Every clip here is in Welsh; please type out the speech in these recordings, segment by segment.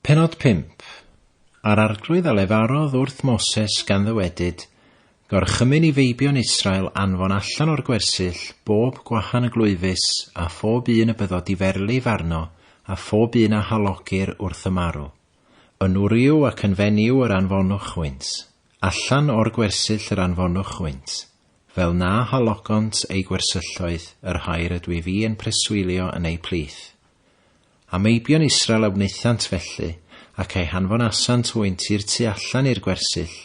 Pennod 5, A'r Arglwydd a lefarodd wrth Moses gan ddywedyd, Gorchymyn i feibion Israel anfon allan o'r gwersyll bob gwahan y glwyfus a phob un y byddo diferlif arno a phob un a halogir wrth y marw. Yn wryw ac yn fenyw yr anfonwch hwynt. Allan o'r gwersyll yr anfonwch hwynt, fel na halogont eu gwersylloedd yr rhai rydw i fi yn preswylio yn eu plith. A meibion Israel a wnaethant felly, ac eu hanfonasant hwynt i'r tu allan i'r gwersyll,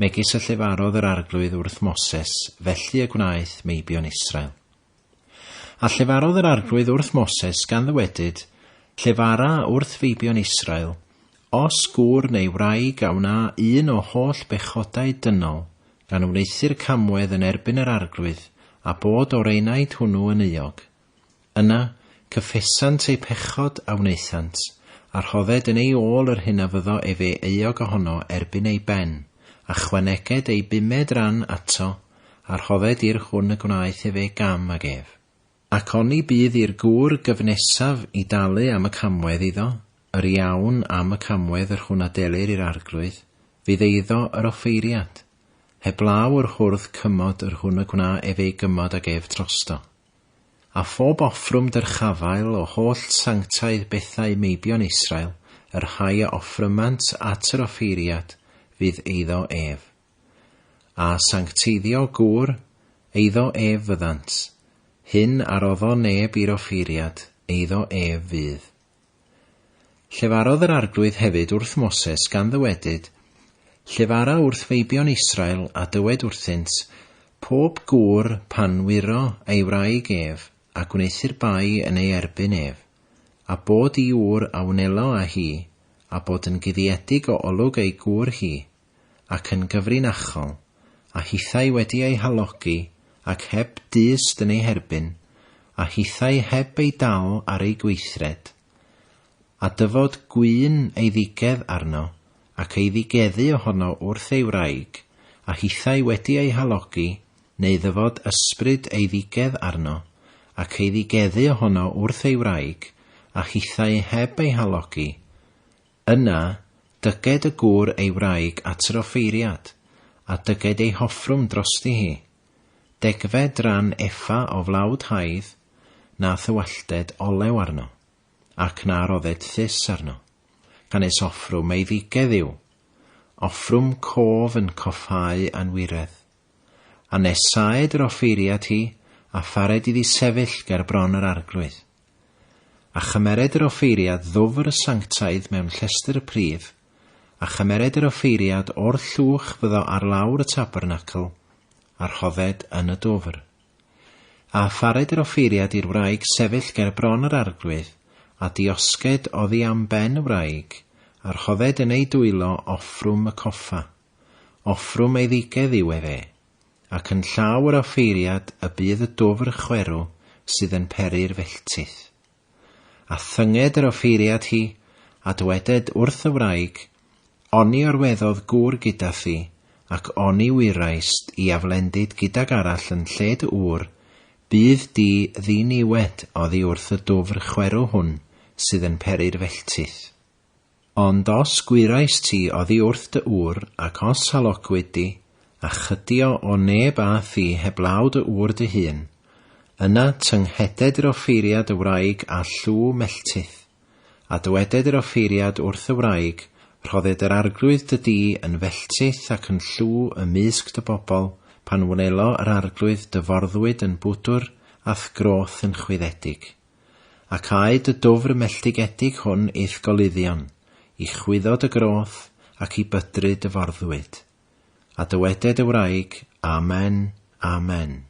megis y llefarodd yr Arglwydd wrth Moses, felly y gwnaeth meibion Israel. A llefarodd yr Arglwydd wrth Moses, gan ddywedyd, Llefara wrth feibion Israel, os gŵr neu wraig a wna un o holl bechodau dynol, gan wneuthur camwedd yn erbyn yr Arglwydd, a bod o'r enaid hwnnw yn euog. Yna, cyffesant eu pechod a wnaethant, a rhodded yn ei ôl yr hyn a fyddo efe euog ohono erbyn ei ben, a chwaneged ei bumed ran ato, a rhodded i'r hwn y gwnaeth efe gam ag ef. Ac oni bydd i'r gŵr gyfnesaf i dalu am y camwedd iddo, yr iawn am y camwedd yr hwn a delir i'r arglwydd, fydd eiddo yr offeiriad, heblaw yr hwrdd cymod yr hwn y gwna ef ei gymod ag ef trosto. A phob offrwm dyrchafael o holl sanctaidd bethau meibion Israel, yr rhai a offrymant at yr offeiriad, fydd eiddo ef. A sancteiddio gŵr, eiddo ef fyddant, hyn a roddo neb i'r offeiriad, eiddo ef fydd. Llefarodd yr Arglwydd hefyd wrth Moses, gan ddywedyd, Llefara wrth feibion Israel, a dywed wrthynt, Pob gŵr, pan wyro ei wraig ef, a gwneuthur bai yn ei erbyn ef, a bod i ŵr a wnelo â hi, a bod yn guddiedig o olwg ei gŵr hi, ac yn gyfrinachol, a hithau wedi eu halogi ac heb dyst yn eu herbyn, a hithau heb eu dal ar eu gweithred, a dyfod gŵyn eiddigedd arno, ac eiddigeddu ohono wrth ei wraig, a hithau wedi eu halogi, neu ddyfod ysbryd eiddigedd arno, ac eiddigeddu ohono wrth ei wraig, a hithau heb ei halogi, Yna, dyged y gŵr ei wraig at yr offeiriad, a dyged ei hoffrwm drosti hi. Degfed ran efa o flawd haidd, na thywallted olew arno, ac na rodded thus arno, gan nes offrwm eiddigedd yw, offrwm cof yn coffáu anwiredd. A nes saed yr offeiriad hi, a phared iddi sefyll ger bron yr arglwydd. A chymered yr offeiriad ddwfr y sanctaidd mewn llestr y prif, a chymered yr offeiriad o'r llwch fyddo ar lawr y tabernacl, a rhodded yn y dwfr. A afared yr offeiriad i'r wraig sefyll ger bron yr arglwydd, a diosged oddi am ben y wraig, a rhodded yn ei dwylo offrwm y coffa. Offrwm eiddigedd yw ef e. Ac yn llaw yr offeiriad y bydd y dwfr chwerw sydd yn peri'r felltith. A thynged yr offeiriad hi, a dyweded wrth y wraig, Oni orweddodd gŵr gyda thi, ac oni wyraist i aflendid gydag arall yn lle dy ŵr, bydd di ddiniwed oddi wrth y dwfr chwerw hwn sydd yn peri'r felltith. Ond os gwyrais ti oddi wrth dy ŵr, ac os halogwyd di, a chydio o neb â thi heblaw dy ŵr dy hun, yna tyngheded yr offeiriad y wraig â llw melltith, a dyweded yr offeiriad wrth y wraig, Rhodded yr arglwydd dy dŷ yn felltith ac yn llw ym mysg dy bobl, pan wnelo yr arglwydd dy forddwyd yn bwdwr a'th groth yn chwyddedig. Ac aed y dwfr melltigedig hwn i'th goluddion, i chwyddo dy groth, ac i bydru dy forddwyd. A dyweded y wraig, Amen, Amen.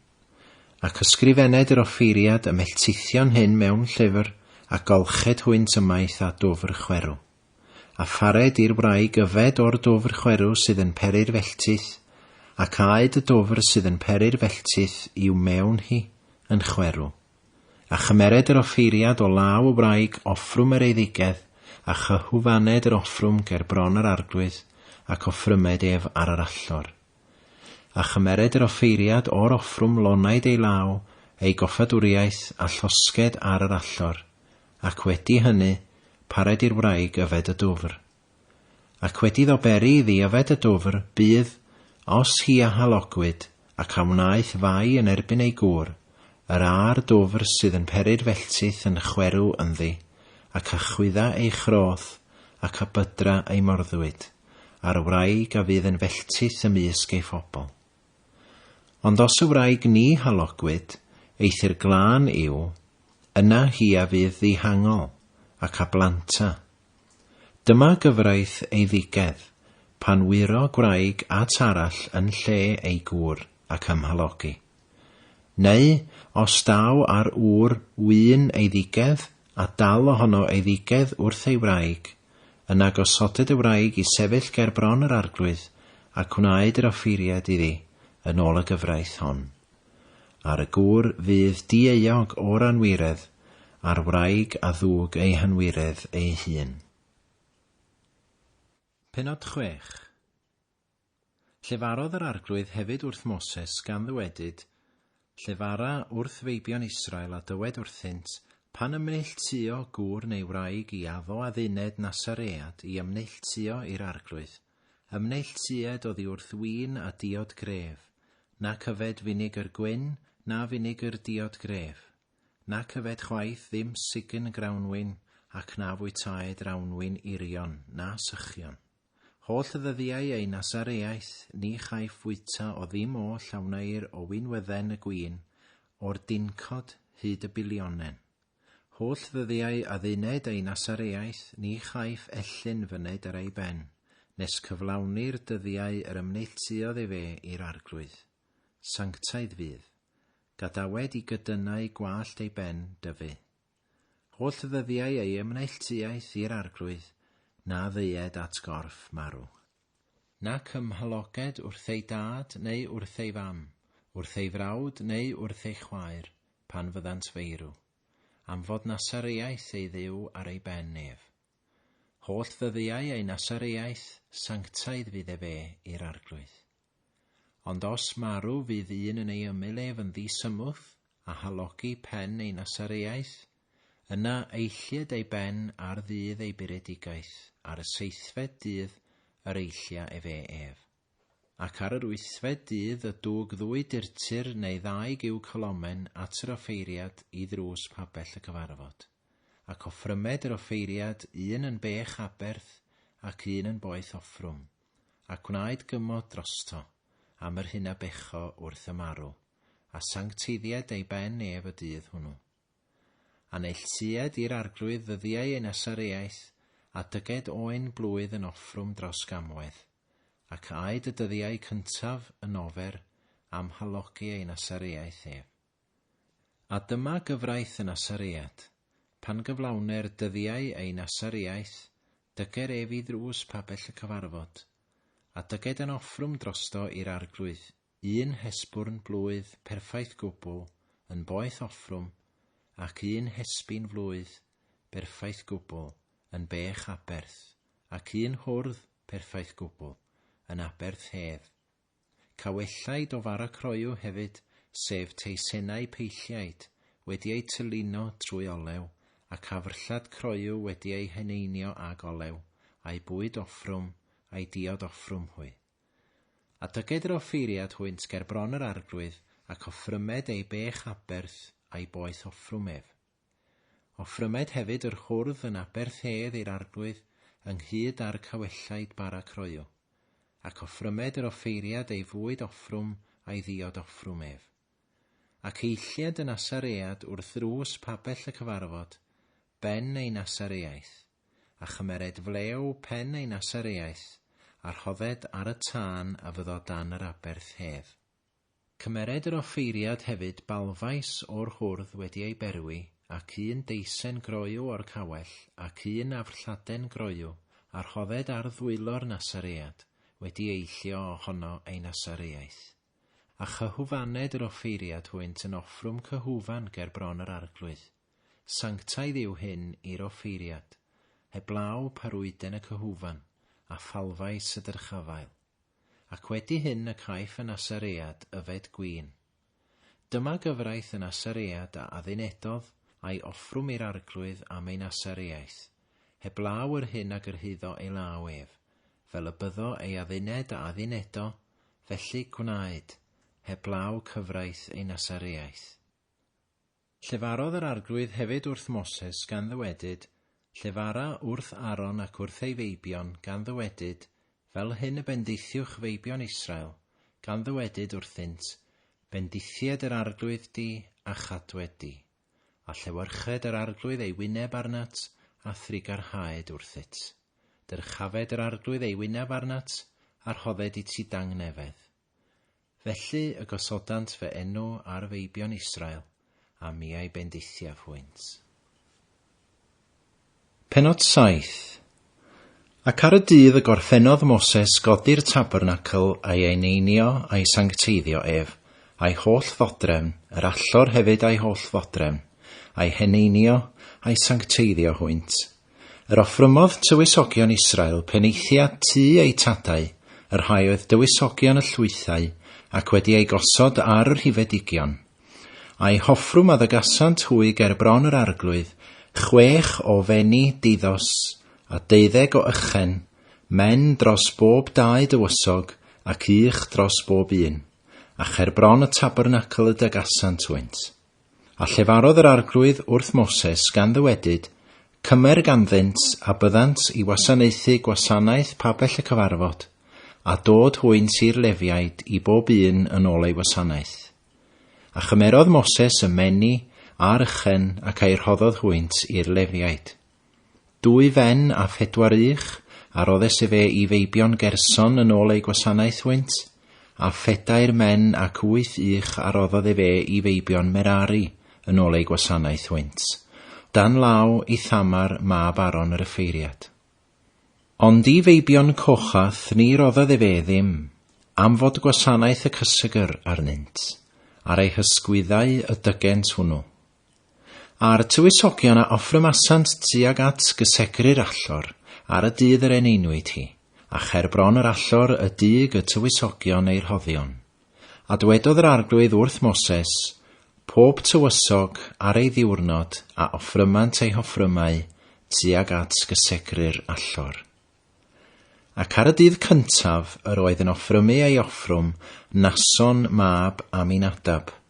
Ac ysgrifened yr offeiriad y melltithion hyn mewn llyfr, a golched hwynt ymaith â dwfr chwerw. A phared i'r wraig yfed o'r dwfr chwerw sydd yn peri'r felltith, ac aed y dwfr sydd yn peri'r felltith i'w mewn hi, yn chwerw. A chymered yr offeiriad o law y wraig offrwm yr eiddigedd, a chyhwfaned yr offrwm ger bron yr arglwydd, ac offrymed ef ar yr allor. A chymered yr offeiriad o'r offrwm lonaid ei law, ei goffadwriaeth, a llosged ar yr allor, ac wedi hyny, pared i'r wraig yfed y dwfr. Ac wedi iddo beri iddi yfed y dwfr, bydd, os hi a halogwyd, ac a wnaeth fai yn erbyn ei gŵr, yr a'r dwfr sydd yn peri'r felltith yn chwerw ynddi, ac a chwydda ei chroth, ac a bydra ei morddwyd, a'r wraig a fydd yn felltith ymysg ei phobl. Ond os y wraig ni halogwyd, eithr glân yw, yna hi a fydd ddihangol, ac a blanta, Dyma gyfraith eiddigedd, pan wyro gwraig at arall yn lle ei gŵr ac ymhalogi. Neu os daw ar ŵr wyn eiddigedd a dal ohono eiddigedd wrth ei wraig, yna gosodid y wraig i sefyll ger bron yr arglwydd a gwnaed yr offeiriad iddi yn ôl y gyfraith hon. Ar y gŵr fydd dieuog o'r anwiredd, a'r wraig a ddug ei hanwiredd ei hun. Pennod chwech. Llefarodd yr Arglwydd hefyd wrth Moses, gan ddywedyd, Llefara wrth feibion Israel a dywed wrthynt, Pan ymneilltuo gŵr neu wraig i addo adduned Nasaread i ymneilltuo i'r Arglwydd, Ym neilltued oddi wrth win a diod gref, Nac yfed finegr gwyn, na finegr diod gref, Nac yfed chwaith ddim sign grawnwin, Ac na fwytaed rawnwin irion, na sychion. Holl ddyddiau ei Nasareaeth, ni chaiff fwyta o ddim oll a wneir o winwydden y gwin, O'r dincod hyd y bilionen. Holl ddyddiau adduned ei Nasareaeth ni chaiff ellyn fyned ar ei ben, nes cyflawni'r dyddiau yr ymneilltuodd efe i'r Arglwydd. Sanctaidd fydd. Gadawed i gydynnau gwallt ei ben dyfu. Holl ddyddiau ei ymneilltuaeth i'r Arglwydd, na ddeued at gorff marw. Nac ym mhaloged wrth ei dad neu wrth ei fam, wrth ei frawd neu wrth ei chwaer, pan fyddant feirw. Am fod Nasareaeth ei Dduw ar ei ben ef. Holl ddyddiau ei Nasareaeth, sanctaidd fydd ef e i'r Arglwydd. Ond os marw fydd un yn ei ymyl ef yn ddi-symwth, a halogi pen ei Nasareaeth, Yna eillid ei ben ar ddydd ei buredigaeth, ar y seithfed dydd yr eillia efe ef. Ac ar yr wythfed dydd y dug ddwy durtur neu ddau giw cylomen at yr offeiriad i ddrws pabell y cyfarfod, ac offrymed yr offeiriad un yn bech aberth ac un yn boeth offrwm, a gwnaed gymod drosto, am yr hyn a becho wrth y marw, a sancteiddied ei ben ef y dydd hwnnw. A neilltued i'r Arglwydd ddyddiau ei Nasareaeth, a dyged oen blwydd yn offrwm dros gamwedd, ac aed y dyddiau cyntaf yn ofer am halogi ei Nasareaeth ef. A dyma gyfraith y Nasaread, pan gyflawner dyddiau ei Nasareaeth, dyger ef i ddrws pabell y cyfarfod, a dyged yn offrwm drosto i'r Arglwydd, un hesbwrn blwydd perffaith gwbl yn boeth offrwm ac un hesbyn flwydd berffaith gwbl yn bech aberth, ac un hwrdd perffaith gwbl yn aberth hef. Cawellai do fara croyw hefyd, sef teisennau peilliaid wedi eu tylino trwy olew, ac afrllad croyw wedi ei heneinio ag olew, a'i bwyd offrwm, a'i diod offrwm hwy. A dyged yr offeiriad hwynt ger bron yr arglwydd, ac offrymed ei bech aberth a'i boeth offrwm ef. Offrymed hefyd yr hwrdd yn aberth hedd i'r arglwydd ynghyd â'r cawellaid bara croyw, ac offrymed yr offeiriad ei fwyd offrwm a'i ddiod offrwm ef. Ac eillied y Nasaread wrth ddrws pabell y cyfarfod, ben ei Nasareaeth. a chymered flew pen ei Nasareaeth, a rhodded ar y tân a fyddo dan yr aberth hedd. Cymered yr offeiriad hefyd balfaes o'r hwrdd wedi ei berwi, ac un deisen groyw o'r cawell, ac un afrlladen groyw, a rhodded ar ddwylo'r Nasaread, wedi eillio o hono ei Nasareaeth. A chyhwfaned yr offeiriad hwynt yn offrwm cyhwfan ger bron yr arglwydd. Sanctaidd yw hyn i'r offeiriad, heblaw pa rwyden y cyhufan, a phalfais y dyrchafael. Ac wedi hyn y caiff y Nasaread yfed gwin. Dyma gyfraith y Nasaread a addunedodd a'i offrwm i'r Arglwydd am ei Nasareaeth, heblaw yr hyn a gyrhaeddo ei law ef, fel y byddo ei adduned a addunedo, felly gwnaed, heblaw cyfraith ei Nasareaeth. Llefarodd yr Arglwydd hefyd wrth Moses, gan ddywedyd, Llefara wrth Aaron ac wrth ei feibion, gan ddywedyd, Fel hyn y bendithiwch feibion Israel, gan ddywedyd wrthynt, Bendithied yr Arglwydd di, a chadwed di. A llewyrched yr Arglwydd ei wyneb arnat, a thrugarhaed wrthyt. Dyrchafed yr Arglwydd ei wyneb arnat, a rhodded i ti dangnefedd. Felly y gosodant fy enw ar feibion Israel, a miau bendithiaf hwynt. Penod 7 Ac ar y dydd y gorffennodd Moses godi'r tabernacl a'i eneinio a'i sancteiddio ef, a'i holl ddodrefn, yr allor hefyd a'i holl ddodrefn, a'i heneinio, a'i sancteiddio hwynt, Yr offrymodd tywysogion Israel penaethiad tu eu tadau, y rhai oedd dywysogion y llwythau, ac wedi eu gosod ar y rhifedigion. A'i hoffrwm a ddygasant hwy ger bron yr arglwydd, chwech o fenni diddos, a deuddeg o ychen, men dros bob dau dywysog, ac ych dros bob un, a cher bron y tabernacl y dygasant hwynt. A llefarodd yr Arglwydd wrth Moses gan ddywedyd, Cymer ganddynt a byddant i wasanaethu gwasanaeth pabell y cyfarfod, a dod hwynt i'r Lefiaid i bob un yn ôl ei wasanaeth. A chymerodd Moses y meni a'r ychen ac a'i rhoddodd hwynt i'r Lefiaid. Dwy fen a phedwar ych, a roddes efe i feibion Gerson yn ôl eu gwasanaeth hwynt, a phedair men ac wyth ych a roddodd efe i feibion Merari yn ôl eu gwasanaeth hwynt, dan law Ithamar mab Aron yr yffeiriad. Ond i feibion Cochath ni roddodd efe ddim, am fod gwasanaeth y cysegr arnynt, ar eu hysgwyddau y dygent hwnnw. A'r tywysogion a offrymasant tuag at gysegru'r allor ar y dydd yr eneinwyd hi, a cher bron yr allor y dug y tywysogion eu rhoddion. A dwedodd yr Arglwydd wrth Moses, Pob tywysog ar ei ddiwrnod a offrymant ei hoffrymau tuag at gysegru'r allor. Ac ar y dydd cyntaf yr oedd yn offrymu ei offrwm Nason mab Aminadab,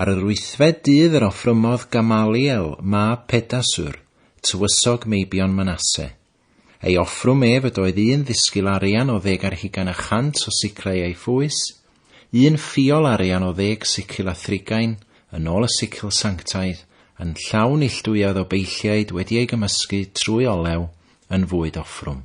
Ar yr wythfed dydd yr offrymodd Gamaliel mab Pedasur, tywysog meibion Manasse. Ei offrwm ef ydoedd un ddisgil arian o ddeg ar hugain a chant o siclau ei phwys, un ffiol arian o ddeg sicil a thrigain, yn ôl y sicil sanctaidd, yn llawn neillduwiad o beilliaid wedi ei gymysgu trwy olew, yn fwyd offrwm.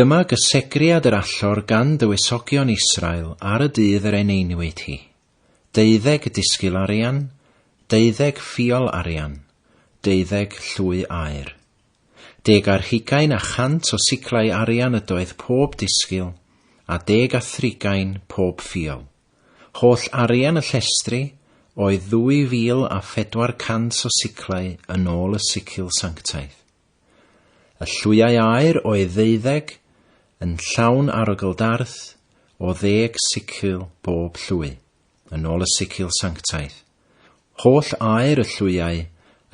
Dyma gysegriad yr allor gan dywysogion Israel ar y dydd yr eneinwyd hi, deuddeg disgil arian, deuddeg ffiol arian, deuddeg llwy aur. Deg ar hugain a chant o siclau arian ydoedd pob disgil, a deg a thrigain pob ffiol. Holl arian y llestri oedd ddwy fil a phedwar cant o siclau yn ôl y sicil sanctaidd. Y llwyau aer o'i ddeuddeg yn llawn arogl darth o ddeg sicil bob llwy, yn ôl y sicil sanctaidd. Holl aer y llwyau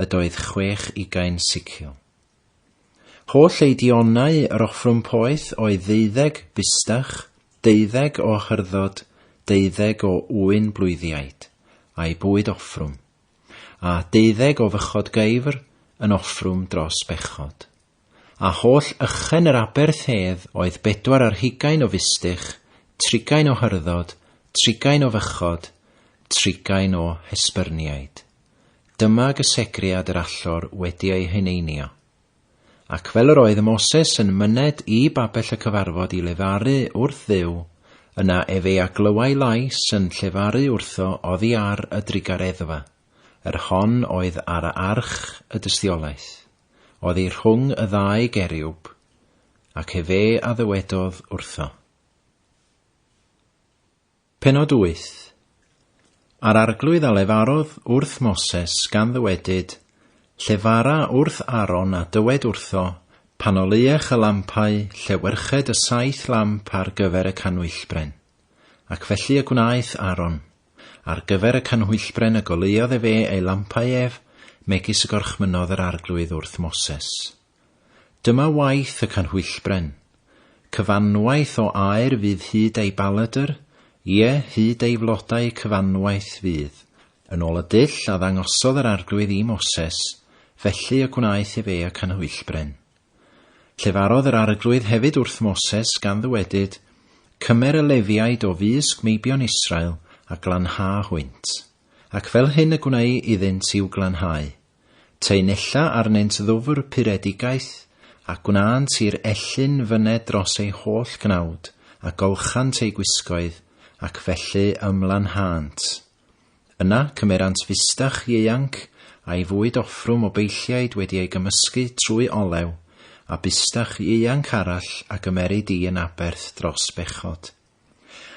ydoedd chwech ugain sicil. Holl eidionau yr offrwm poeth o'i ddeuddeg fustach, deuddeg o hyrdod, deuddeg o ŵyn blwyddiaid, a'i bwyd offrwm. a deuddeg o fychod geifr yn offrwm dros bechod. A holl ychen yr aberth hedd oedd bedwar ar hugain o fustych, trigain o hyrddod, trigain o fychod, trigain o hesbyrniaid. Dyma gysegriad yr allor wedi ei heneinio. Ac fel yr oedd Moses yn myned i babell y cyfarfod i lefaru wrth Dduw, yna ef ei a glywai lais yn llefaru wrtho oddi ar y drugareddfa, yr hon oedd ar arch y dystiolaeth, oddi rhwng y ddau geriwb, ac efe a ddywedodd wrtho. Pennod wyth. A'r arglwydd a lefarodd wrth Moses gan ddywedyd, Llefara wrth Aaron a dywed wrtho, Pan oleuech y lampau, llewyrched y saith lamp ar gyfer y canhwyllbren. Ac felly y gwnaeth Aaron. Ar gyfer y canhwyllbren y goleuodd efe ei lampau ef, megis y gorchmynnodd yr arglwydd wrth Moses. Dyma waith y canhwyllbren. Cyfanwaith o aer fydd hyd ei baledr, ie, hyd ei flodau cyfanwaith fydd, yn ôl y dull a ddangosodd yr Arglwydd i Moses, felly y gwnaeth ef e y canhwyllbren. Llefarodd yr Arglwydd hefyd wrth Moses, gan ddywedyd, Cymer y Lefiaid o fusg meibion Israel a glanha hwynt. Ac fel hyn y gwneu iddynt i'w glanhau. Teunella arnynt ddwfr puredigaeth, a gwnânt i'r ellyn fyned dros ei holl gnawd, a golchant ei gwisgoedd, ac felly ymlanhânt. Yna cymerant fusdach ieuanc, a'i fwyd offrwm o beilliaid wedi ei gymysgu trwy olew, a busdach ieuanc arall a gymerid i yn aberth dros bechod.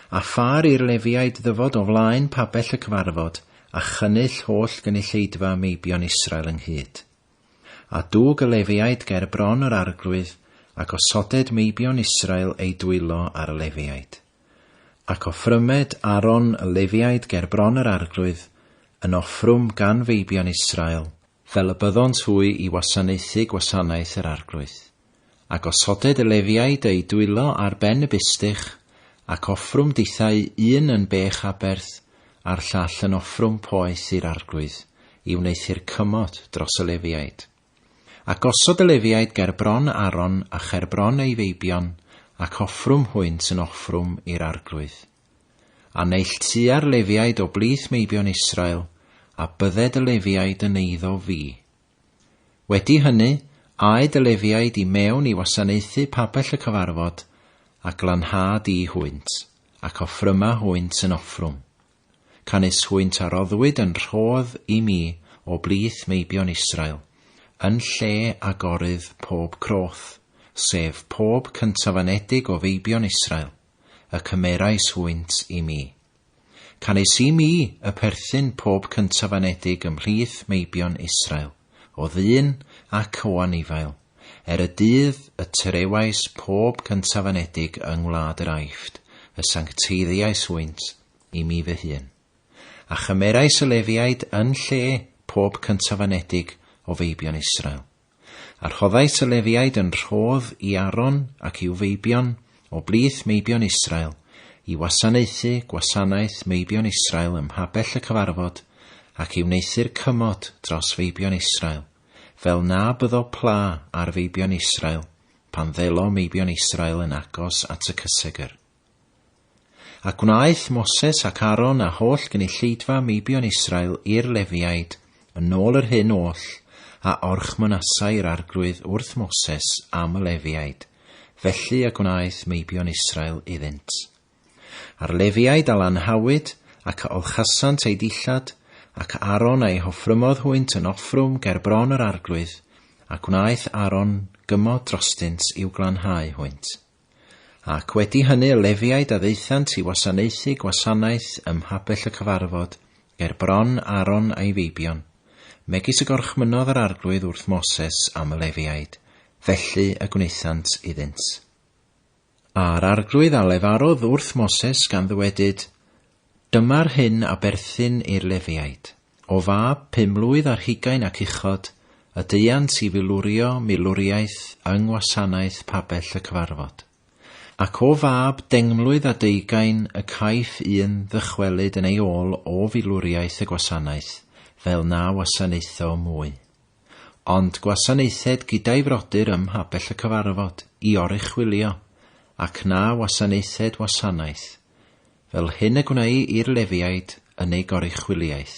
A phar i'r Lefiaid ddyfod o flaen pabell y cyfarfod, a chynnull holl gynulleidfa meibion Israel ynghyd. A dug y Lefiaid ger bron yr arglwydd, a gosoded meibion Israel eu dwylo ar y Lefiaid. Ac offrymed Aaron y Lefiaid ger bron yr arglwydd, yn offrwm gan feibion Israel, fel y byddont hwy i wasanaethu gwasanaeth yr Arglwydd. A gosoded y Lefiaid eu dwylo ar ben y bustych, ac offrwm dithau un yn bech aberth, a'r llall yn offrwm poeth i'r Arglwydd, i wneuthur cymod dros y Lefiaid. A gosod y Lefiaid ger bron Aaron a cher bron ei feibion, ac offrwm hwynt yn offrwm i'r Arglwydd. A neilltua'r Lefiaid o blith meibion Israel, a bydded y Lefiaid yn eiddo fi. Wedi hynny, aed y Lefiaid i mewn i wasanaethu pabell y cyfarfod, a glanhâd i hwynt, ac offryma hwynt yn offrwm. Canys hwynt a roddwyd yn rhodd i mi o blith meibion Israel, yn lle agorydd pob croth, sef pob cyntafanedig o feibion Israel, y cymerais hwynt i mi. Canes i mi y perthyn pob cyntaf anedig ymhlith meibion Israel, o ddyn ac o anifail, er y dydd y tyrewais pob cyntaf anedig yng ngwlad yr Aifft, y sancteiddiais hwynt i mi fy hun. A chymerais y Lefiaid yn lle pob cyntaf anedig o feibion Israel. A rhoddais y Lefiaid yn rhodd i Aaron ac i'w feibion, o blith meibion Israel, i wasanaethu gwasanaeth meibion Israel ym mhabell y cyfarfod, ac i wneuthur cymod dros feibion Israel, fel na byddo pla ar feibion Israel, pan ddelo meibion Israel yn agos at y cysegr. A gwnaeth Moses ac Aaron a holl gynulleidfa meibion Israel i'r Lefiaid, yn ôl yr hyn oll a orchmynasai yr Arglwydd wrth Moses am y Lefiaid, felly y gwnaeth meibion Israel iddynt. A'r Lefiaid a lanhawyd, ac a olchasant eu dillad, ac Aaron a'i hoffrymodd hwynt yn offrwm ger bron yr Arglwydd, a gwnaeth Aaron gymod drostynt i'w glanhau hwynt. Ac wedi hynny y Lefiaid a ddaethant i wasanaethu gwasanaeth ym mhabell y cyfarfod, ger bron Aaron a'i feibion, megis y gorchmynnodd yr Arglwydd wrth Moses am y Lefiaid, felly y gwnaethant iddynt. A'r Arglwydd a lefarodd wrth Moses gan ddywedyd, Dyma'r hyn a berthyn i'r Lefiaid, o fab pum mlwydd ar hugain ac uchod, y deuant i filurio milwriaeth yng ngwasanaeth pabell y cyfarfod. Ac o fab dengmlwydd a deugain y caiff un ddychwelyd yn ei ôl o filwriaeth y gwasanaeth, fel na wasanaetho mwy. Ond gwasanaethed gyda'i frodyr ym mhabell y cyfarfod, i oruchwylio, ac na wasanaethed wasanaeth, fel hyn y gwnei i'r Lefiaid yn ei goruchwyliaeth.